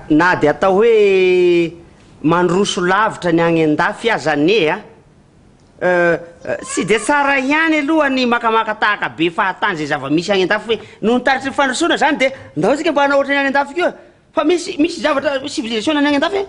Na dia atao hoe mandroso lavitra ny any an-dafy aza anie a! Euh, tsy dia tsara ihany aloha ny makamaka tahaka be fahatany izay zava-misy any an-dafy hoe noho ny taritry ny fandrosoana izany dia ndao isika mba hanao ohatry ny any an-dafy koa fa misy, misy zavatra, civilisation ny any an-dafy e!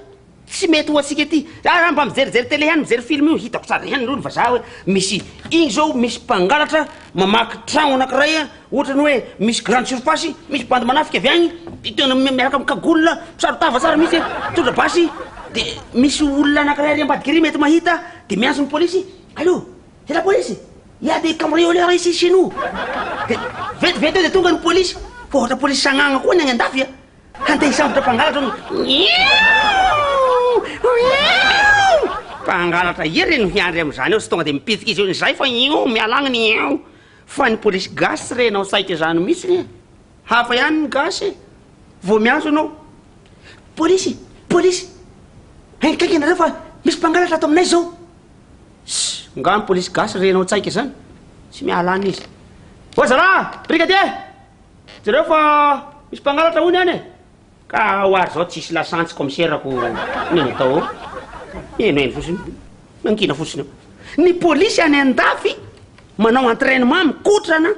Tsy mety ho antsika ity. Raha mba mijerijery télé ihany, mijery film io, hitako tsara ihany ireo ny vazaha hoe misy iny izao misy mpangalatra mamaky tragno anankiray ohatra ny hoe misy grande surface, misy bandy manafika avy agny, dia tena miaraka amin'ny cagoule, mpisaro-tava tsara mihitsy an, mitondra basy, dia misy olona anankiray ary ambadiky ery mety mahita, dia miantso ny polisy, allô, c'est la police, il y a des cambrioleurs ici chez nous, dia vetivety eo dia tonga ny polisy, fa ohatra polisy sagnagna koa ny agny an-dafy an, Handeha hisambotra mpangalatra no Mpangalatra iry no hiandry amin'izany eo sy tonga dia mipitika izy eo izay fa io mialagny ny eo fa ny polisy gasy tsy renao saika izany mihitsiny e hafa ihany ny gasy e vao miantso anao polisy polisy enkaika ianareo fa misy mpangalatra ato aminay izao nga ny polisy gasy renao tsaika izany tsy mialagny izy oazalahy brigadier Jereo fa misy mpangalatra hono any e! Ka ho ary zao tsisy lasantsy commissaire ko neny atao ao. Heno heno fotsiny. Mangina fotsiny eo. Ny polisy any andafy manao entrainement mikotrana,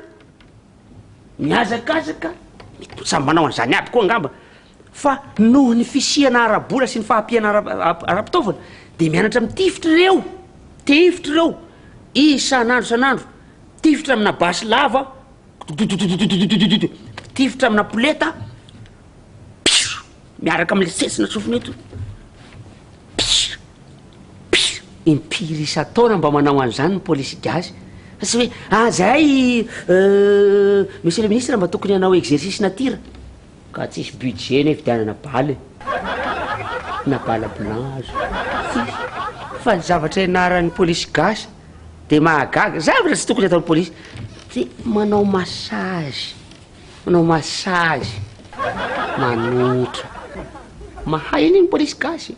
mihazakazaka, mitotsa manao an'izany aby koa angamba Fa noho ny fisiana ara-bola sy ny fahampiana ara-pitaovana dia mianatra mitifitra ireo tifitra ireo isan'andro isan'andro, mitifitra amina basy lava, dodododododododododododo, mitifitra amina poleta, pihh, miaraka amin'ilay setsina sofina eto, pihh, pihh, impiry isan-taona mba manao an'izany ny polisy gasy? Fa tsy hoe ah zay Monsieur le Ministre mba tokony hanao exercice nature. Ka tsisy budget ny hividianana bala e! Na bala blanc aza tsisy! Fa ny zavatra ianaran'ny polisy gasy dia mahagaga, zavatra tsy tokony ataon'ny polisy dia manao massage, manao massage, manotra. Mahay an'iny ny polisy gasy e!